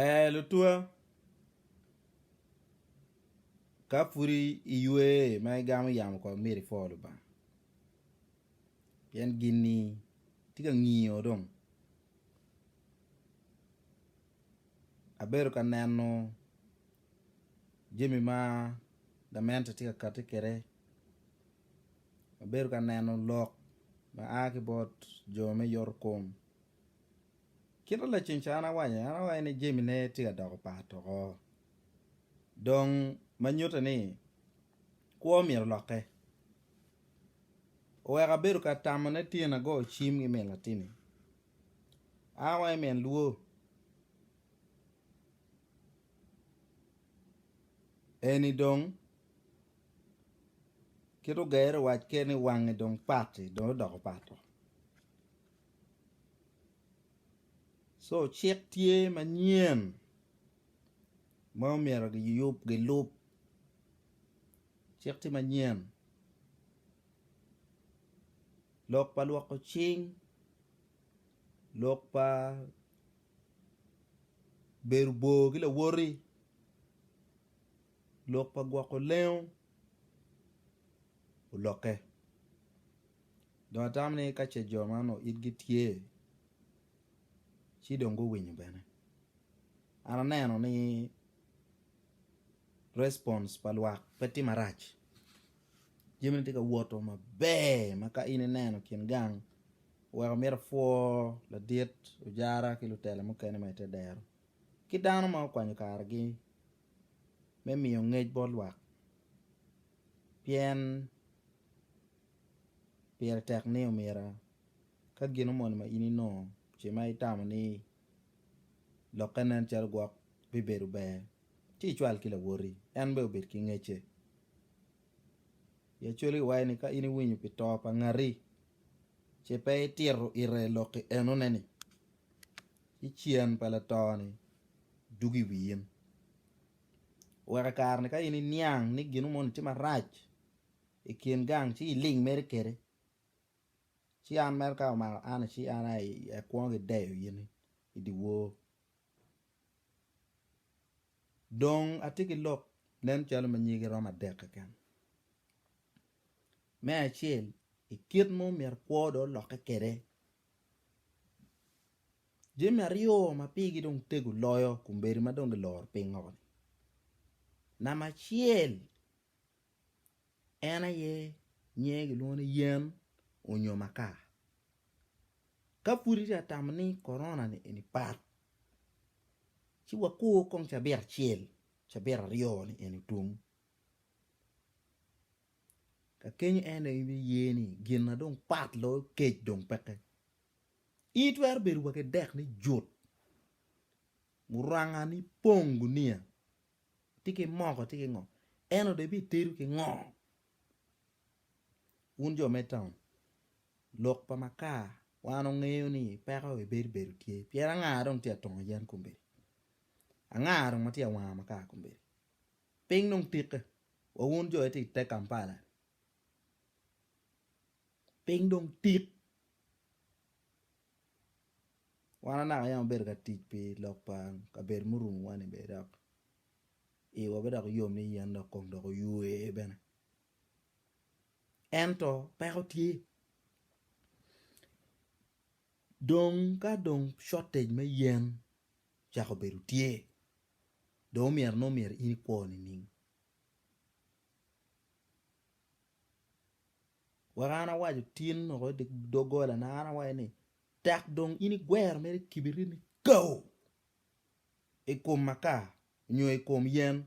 Ee lutwa, ka pud iywe ma igamo yamo kong myero ipwo Lubanga pien gin-ni tye ka ngiyo dong. Abedo ka neno jami ma gamente tye ka kati kwede, abedo ka neno lok ma a ki bot jo me yotokom. Kit ma laceng ca an awaco an awaco ni Jemi ne tye ka doko pat oko dong ma nyutte ni kwo myero olokke oweko abedo ka tamo ne tyena go cim ki min latinni an awaco ni min luwo eni dong kit ogero owac kene ni wange dong patti dong odoko pat oo. Co cik tye manyen ma omyero giyub gilub cik tye manyen lok pa lwoko cing lok pa bedo bor ki lawoti lok pa gwoko lengo olokke. Dong atamo ni ka ce jo ma onongo itgi tye ci dong guwinyo bene. An aneno ni response pa lwak pe tye marac, jamini tye ka woto maber ma ka in ineno kin gang oweko myero ipwo ladit ojara ki lutela mukene ma ite dero ki dano ma okwanyo kargi me miyo ngec bot lwak pien Pire tek ni omira ka gino moni ma in inongo ce ma itamo ni lokke nen calo gwok bibedo ber, ci icwal ki lawoti en bene obed ki ngecce. I Acholi kiwaco ni ka in iwinyo pi to pa ngati ce pe itito ite lokki enone-ni, ci cen pa lato-ni dugo i wi in. Wek i kare-ni ka in iniang ni gino moni tye marac i kin gang ci iling mere kede, ci an mere ka omako an ci an aye akwongo ki deyo in i dye wor. Dong atye ki lok nen calo ma nyige romo adek keken. Me acel i kit ma omyero kwo dong olokke kwede, jami aryo ma pigi dong tego loyo kombeddi ma dong giloro piny woko-ni, namba acel en aye nyinge kilwongo ni yen onyo maka ka pud itye ka tamo ni korona ni eni pat ci wakur kong cabit acel cabit aryo ni eni otum kakeny en dong ibi ye ni gin ma dong pat loyo kec dong peke in itwero bedo wa ki dek ni jut muranga ni pong guniya Tye ki moko, tye ki ngo. Eno dong ibitedo ki ngo? Wun jo me taun, lok pa makar wan ongeyo ni peko i bedo bedo tye. Pien anga dong tye ka tongo yen kombeddi? Anga dong ma tye ka wango makar kombeddi? Piny dong tikke wa wun jo itye i te Kampala ni. Piny dong tik. Wan anaka yam wabedo ka tic pi lok pa kabedo murumo wani bene dok iwa bene dok yom ni yen dok kong dok oywe bene ento peko tye dong ka dong shortage me yen ocako bedo tye dong omyero nongo omyero in ikwo nining Wek an awaco tin woko i doggolana, an awaco ni, Tek dong in igwero mere kibiritni kao i kom makar nyo i kom yen,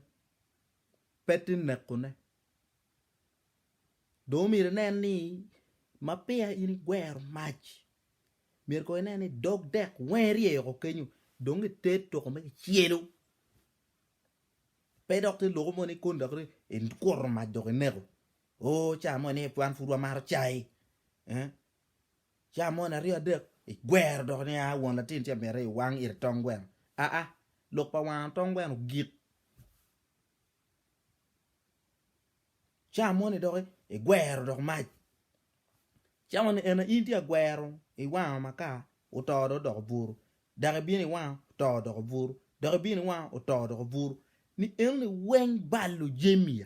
pe tin nekone. Dong omyero inen ni ma peya in igwero mac, myero kono inen ni dog dek weng iryeyo woko kenyo dong iter toko ma kicelo, pe dok tye loko moni koni dok ni ikuto mac dok ineko. Oo, ca moni aye wan pud wamato cai. Ca moni aryo adek igwero dok ni aa won latin ci amiti iwang ite tong gweno aa lok pa wango tong gweno gik. Ca moni dok igwero dok mac ca moni en aye in tye ka gwero iwango maka oto dong odoko buru dok ibino iwango oto odoko buru dok ibino iwango oto odoko buru ni enoni weng balo jami.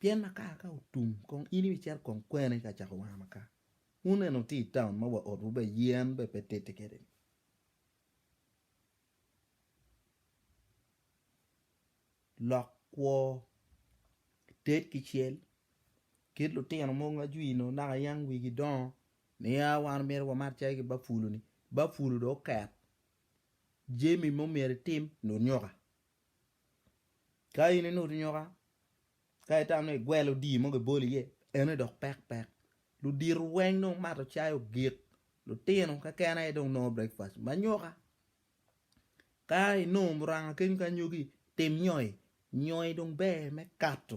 Pien makar ka otum kong in ibicito kong kwene ka cako wanga makar. Wun eni wutye i taun ma wa otwu be yen be pe titi kede ni. Lok kwo, ted ki cel kit lutino mogo ma jwi nongo naka yam wigi dongo niya wan myero wamat calo ki bafulu ni, bafulu dong oket jami ma myero itim ni onyuka. Ka in inutu nyoka ka itam ni igwelo odii mo gibolo iye ene dok pek pek ludito weng dong gumato cai ogik lutino keken aye dong nongo breakfast ma nyoka ka inongo muranga kenyo ki anyogi tim nyoi, nyoi dong ber me kato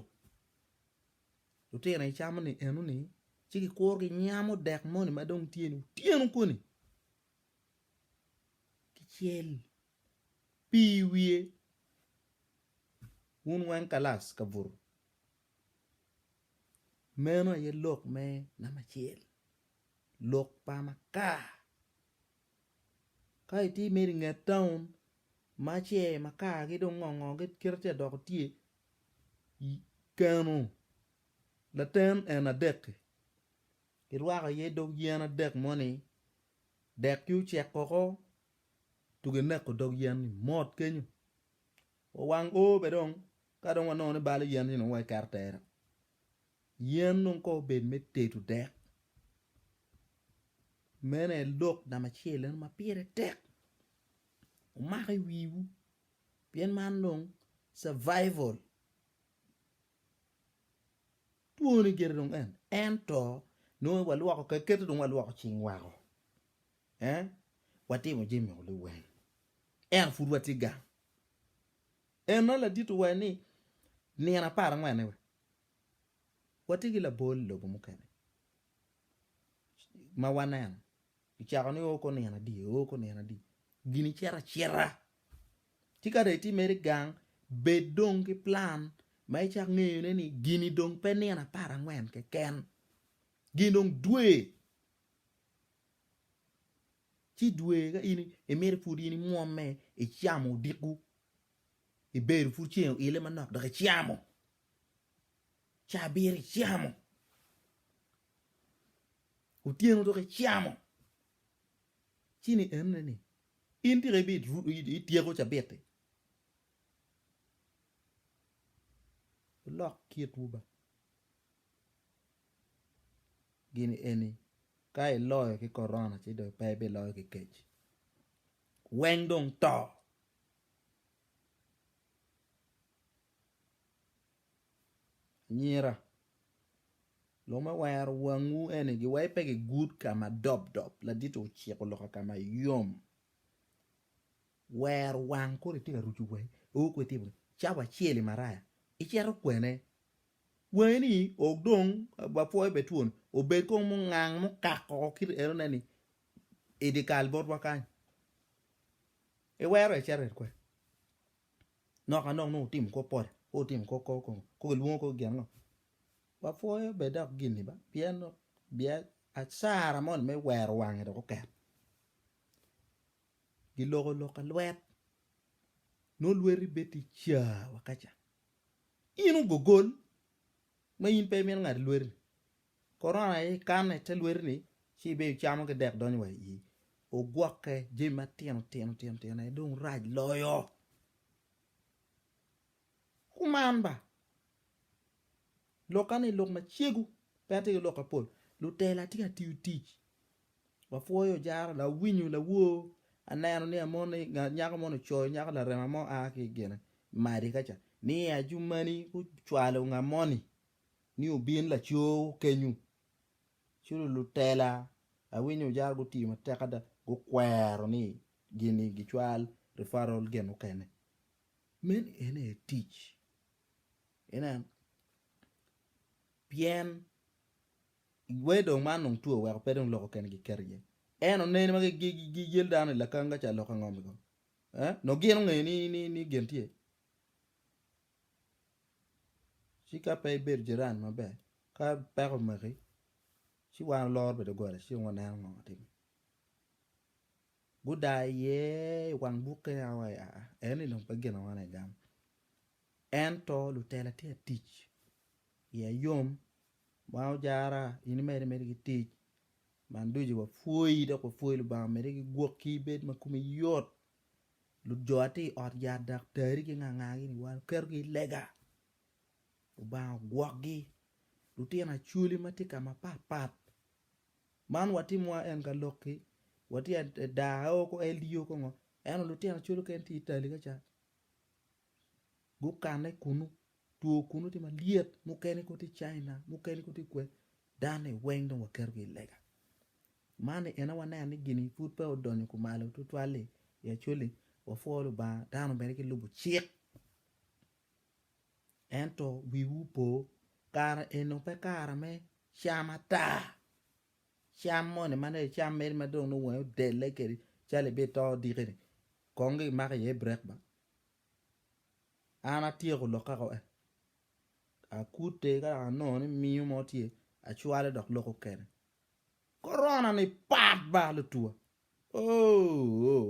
lutino icamo ni eno ni ci gikuru ginyamo dek moni madong tye ni otyeno koni ki cel pii wiye wun weng kalas ka buto meno aye lok me namba acel lok pa makar ka itye mere inget town ma ce makar gi dong ngo ngo kit ma tye ka dok tye keno laten en adek-ki kirwako iye dog yen adek moni dek-ki ocek woko. tugo ineko dog yen-ni mot kenyo. Wawang o bene dong ka dong wanongo ni balo yen-ni dong wai keto tera. Yen dong kong obed me tedo dek. Meno aye lok namba acel eno ma pire tek. Wumak i wiwu pien man dong survival. Twoni gire dong en, ento nongo walwoko keken-ni dong walwoko cing woko. Ee, watimo jami o liweng, ento pud watye gang. En nongo ladito wa ni nino apar angwen-ni wa, watye ki labol i lobo mukene ma waneno kicako ni oko nino adi, oko nino adi, gini cito acita. Ci ka dong itye mere i gang, bed dong ki plan ma icak ngeyone ni gini dong pe nino apar angwen keken, gin dong dwe. ci dwe ka in imito pud in imwomme icamo odiko ibedo pud ceng oile manok dok icamo ca abiro icamo otyeno dok icamo ci ni enne ni in tika ityeko cabit-ti wulok kitwu ba. gin eni ka iloyo ki korona ci dong pe ibiloyo ki kec weng dong to. Anyira lok me wero wangwu eni giwai pe gigud ka ma dob dob laditi ociko loka ka ma yom wero wang kore tye ka ruco wangi oo kwede tye bene cawa acel imaraya icito kwene Wangi ni ok dong wapwoyo bed twon, obed kong mungang mukak woko kit enone ni i dye kal botwa kany. Iwero ecet red kwede. Nok anok nongo otimo kor pol, kor otimo kor kor kongo, kor kilwongo kor gin ango? Wapwoyo bed dok gin-ni ba pien dong acara moni me wero wange dok oket. giloko loka lwet nongo lweti bed tye ca wa kaca in ogogol ma in pe imito ngado lweti korona aye ikane ite lweti ni ci ibedo icamo ki dek donyo wa iyii ogwoke jami matino tino tino tino aye dong rac loyo. Kuman ba, lokka ni lok macegu pe atye ki lok mapol. Lutela atye ka tiyo tic, wapwoyo jaro, lawinyo, lawor, aneno ni amoni, nyako moni ocoyo nyako larema mo a ki i gine madi ka ca ni ajumani gucwalo nga moni ni obin lacoo kenyu ci dong lutela awinyo jaro gutiyo matek ada gukwero ni gini gicwal referral gin mukene. Meno en aye tic, inen, pien wee dong man dong two oweko pe dong lok okene giketo iye. En oneni ma giyel dano i lakanga ca lok ango mego? Nongo gin ongeyo ni gin tye? Ci ka pe ibedo jiran maber, ka peko omaki ci wan oloro bene doggola ci dong waneno ngo ma timmi. Gudaa iye i wang bukke nia wa ya, eni dong pe ginawa lagam. Ento lutela tye ka tic i ayom ma ojara in imede imede ki tic man ducu wapwoyi dok wapwoyi Lubanga omede ki gwokki ibed ma komi yot lujo aye tye i ot yat dok teri ki nga nga gi ni wa ketogi i lega Lubanga ogwokgi lutino acholi ma tye ka ma pat pat Man watimo wa en ka lok ki watye daa aye oko LDO kongo eno lutino calo kene tye Italy ka ca gukane kunu two kunu tye malyet mukene kong tye China mukene kong tye kwe daa ni weng dong waketo gi i lega man ni eno waneno ni gini pud peya odonyo kumalo tutwal li actually wapwo Lubanga dano bene gilubo cik. Ento wiwu opo, kara eno pe kara me cam ata, cam moni ma nongo icam mere ma dong nongo wangi odelle kedi calo ibito odikeni kong dong imako iye brek ba, an atyeko lok kaka en, akute ka dok anongo ni miyo mo tye acwale dok loko kene, korona-ni pat ba lutuwa ooh.